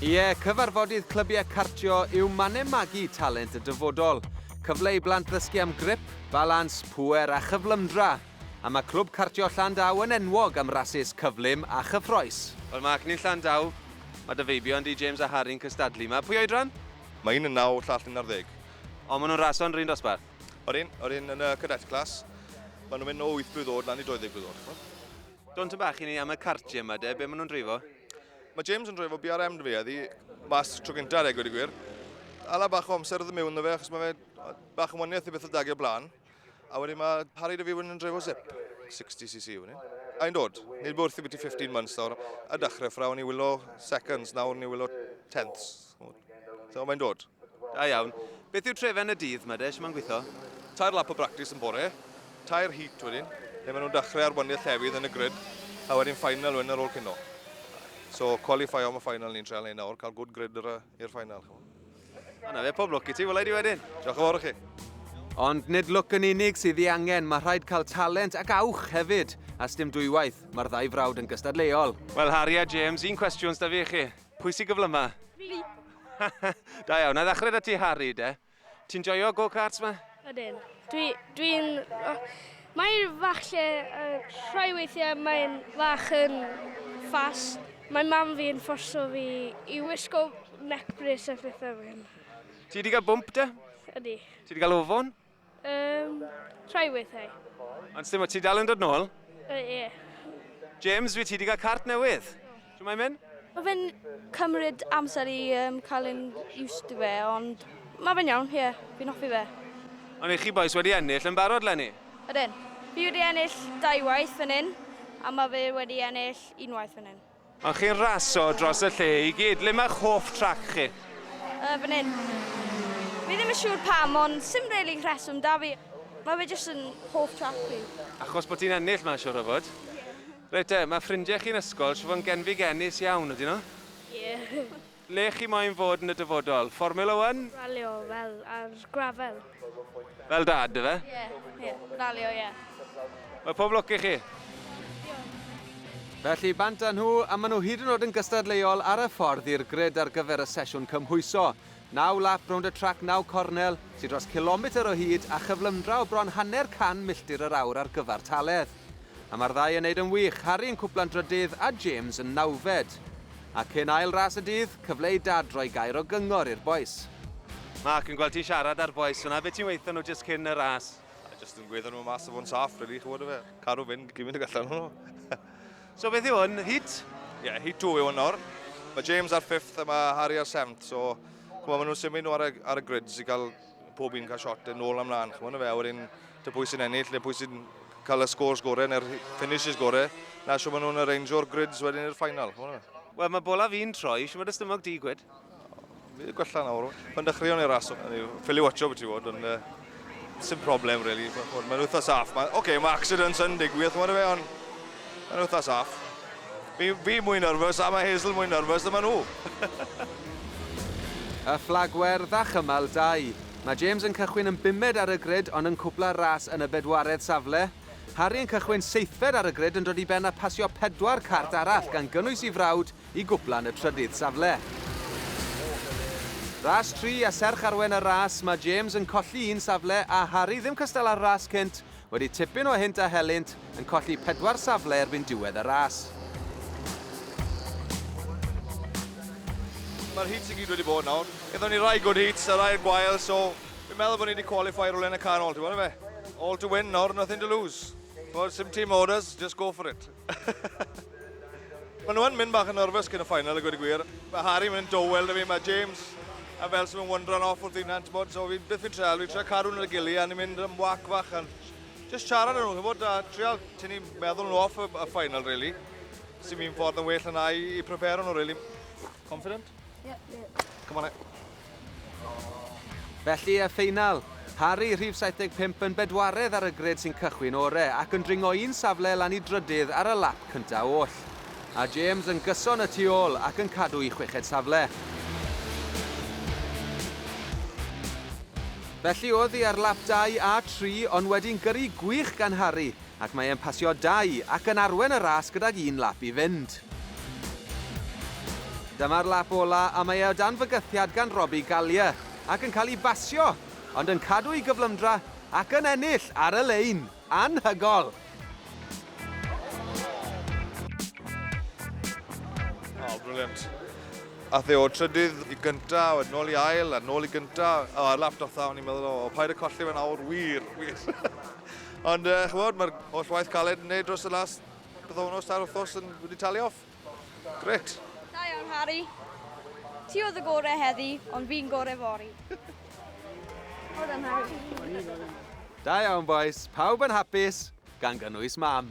Ie, cyfarfodydd clybiau cartio yw mannau magu talent y dyfodol. Cyfle i blant ddysgu am grip, balans, pŵer a chyflymdra. A mae Clwb Cartio Llandaw yn enwog am rasys cyflym a chyffroes. Wel, mae Acni'n Llandaw, mae dy feibion di, James a Harry'n cystadlu yma. Pwy oedran? Mae un yn naw, llall yn arddeg. O, maen nhw'n raso yn yr un dosbarth? Odyn, odyn, yn y cadet class. Maen nhw'n mynd o wyth blwydd oed lan i 20 blwydd oed. Don ta bach i ni am y cartiau yma de, be maen nhw'n dreifo? Mae James yn dreifo BRM dwi eddi, mas tro gyntaf ar egwyd y gwir. Ala bach o amser oedd y mewn na fe, achos mae fe bach yn waniaeth i beth o dagio blaen. A wedyn mae Harry Dyfi yn dreifo zip, 60cc i fyny. A'n dod, nid bod wrth i byti 15 months nawr, a dechrau ffrawn i wylo seconds, nawr ni wylo tenths. So mae'n dod. Da iawn. Beth yw trefen y dydd, ma de, sy'n ma'n gweithio? Tair lap o bractis yn bore, tair heat wedyn, lle maen nhw'n dechrau ar wyniad llefydd yn y grid, a wedyn final wedyn ar ôl cino. So, qualify am y final ni'n treol ei nawr, cael good grid i'r final. Yna fe, pob lwc i ti, wylai di wedyn. Diolch yn fawr i chi. Ond nid lwc yn unig sydd ei angen, mae rhaid cael talent ac awch hefyd. A sdim dwywaith, mae'r ddau frawd yn gystadleuol. Wel, Harry a James, un cwestiwn sydd da fi i chi. Pwy sy'n gyflyma? Fi. da iawn, na ddechrau da ti Harry de. Ti'n joio go-karts ma? Ydyn. Dwi, dwi'n... Oh, mae'n fach lle, uh, rhoi weithiau mae'n fach yn fast. Mae mam fi yn fforso fi i wisgo neck brace a phethau fel. Ti wedi cael bwmp de? Ydy. Ti wedi cael ofon? Um, trai weithiau. Ond sdim o ti dal yn dod nôl? Ie. Uh, yeah. James, wyt ti wedi cael cart newydd? Dwi'n mae'n mynd? Mae fe'n cymryd amser i um, cael yn used to fe, ond mae fe'n iawn, ie, yeah, fi'n hoffi fe. Ond i chi boes wedi ennill yn barod, Lenny? Ydyn. Fi wedi ennill dau waith fan hyn, a mae fe wedi ennill unwaith fan hyn. Ond chi'n raso dros y lle i gyd. Le mae'ch hoff trac chi? Yy, fan hyn. Fi ddim yn siŵr pam, ond sim rili rheswm 'da fi. Mae fe jyst yn hoff trac fi. Achos bod ti'n ennill 'ma, siŵr o fod? Ie. Reit te, mae ffrindiau chi'n ysgol siŵr fod yn genfig-enus iawn, ydyn nhw? Ie. Le chi moyn fod yn y dyfodol? Formula One? Ralio fel ar grafel. Fel dad ife? Ie, ie. Ralio, ie. Wel, pob lwc i chi. Felly, bant â nhw, a maen nhw hyd yn oed yn gystadleuol ar y ffordd i'r grid ar gyfer y sesiwn cymhwyso. Naw lap rownd y trac naw cornel, sy dros cilometr o hyd a chyflymdra o bron hanner can milltir yr awr ar gyfartaledd. A mae'r ddau yn neud yn wych, Harry yn cwpla'n drydydd a James yn nawfed. A cyn ail ras y dydd, cyfle i Dad roi gair o gyngor i'r bois. Mark, yn gweld ti'n siarad â'r bois fan'na, be ti'n weutho nhw jyst cyn y ras? A jyst yn gweutho nhw mas a fod yn saff rili, chi'n gwybod ife? Cadw fynd gymint ag allan nhw. So beth yw hwn, heat? Ie, heat two yw hwn nawr. Mae James ar fifth a mae Harry ar seventh, so chimod, maen nhw'n symud nhw ar y, ar y grids i gael pob un cael shot yn ôl amlaen, chymod fe, a wedyn dy pwy sy'n ennill, neu pwy sy'n cael y scores gorau neu'r finishes gorau, na siw maen nhw'n arrange o'r grids wedyn i'r ffainal, chymod fe. Wel, mae bola fi'n troi, siw mae dy stymog di, gwed? Fi wedi gwella nawr, pan dechreuon i'r ras, ffili watcho beth i fod, ond uh, sy'n problem, really. Mae'n wythnos af, mae, okay, mae accidents yn digwydd, chymod fe, ond Mae'n wythnos off. Fi, fi mwy nyrfys a mae Hazel mwy nyrfys na ma nhw. Y fflagwerdd a chymal dau. Mae James yn cychwyn yn bumed ar y grid ond yn cwpla'r ras yn y bedwaredd safle. Harry yn cychwyn seithfed ar y grid yn dod i ben a phasio pedwar cart arall gan gynnwys i frawd i gwpla yn y trydydd safle. Ras tri a serch arwen y ras mae James yn colli un safle a Harry ddim cystal â'r ras cynt Wedi tipyn o hynt a helynt, yn colli pedwar safle erbyn diwedd y ras. Mae'r heats i gyd wedi bod nawr. Gyda ni rai good heats a rai gwael, so fi'n meddwl bod ni wedi qualify rhywle yn y canol, ti'n gwybod efe? All to win nawr, nothing to lose. Ti'n gwybod, sim team orders, just go for it. Mae nhw yn mynd bach yn nerfus cyn y final, y gwed y gwir. Mae Harry mynd yn dowel da fi, mae James a fel sy'n mynd wandran off wrth un hant, bod, so fi'n byth fi'n treol, fi'n treol cadw nhw'n y gili a ni'n mynd yn wac fach yn just siarad â nhw, bod, a treol tynnu meddwl nhw off y, y final, really. Sy'n mynd ffordd yn well yna i, i prepare nhw, really. Confident? Yeah, yeah. Come on, eh. Felly, y ffeinal. Harri, rhif 75, yn bedwaredd ar y gred sy'n cychwyn ore ac yn dringo un safle lan i drydydd ar y lap cynta' oll. A James yn gyson y tu ôl ac yn cadw i chweched safle. Felly, oddi ar lap dau a tri ond wedi'n gyrru gwych gan Harri. ac mae e'n pasio dau ac yn arwen y ras gydag un lap i fynd. Dyma'r lap ola a mae e o dan fygythiad gan Robbie Gallier ac yn cael ei basio, ond yn cadw ei gyflymdra ac yn ennill ar y lein. Anhygol! Oh, brilliant. Ath e o trydydd i gynta, a wedyn nôl i ail, a nôl i gynta. O, ar lap dotha, o'n i'n meddwl, o, paid y colli fe nawr, wir, wir. Ond uh, chymod, mae'r holl waith caled yn neud dros y las byddownos ta'r wrthos yn wedi talu off. Gret. Da iawn, Harry. Ti oedd y gorau heddi, ond fi'n gorau fori. Wel done, Harry. Da iawn, boys. Pawb yn hapus, gan gynnwys mam.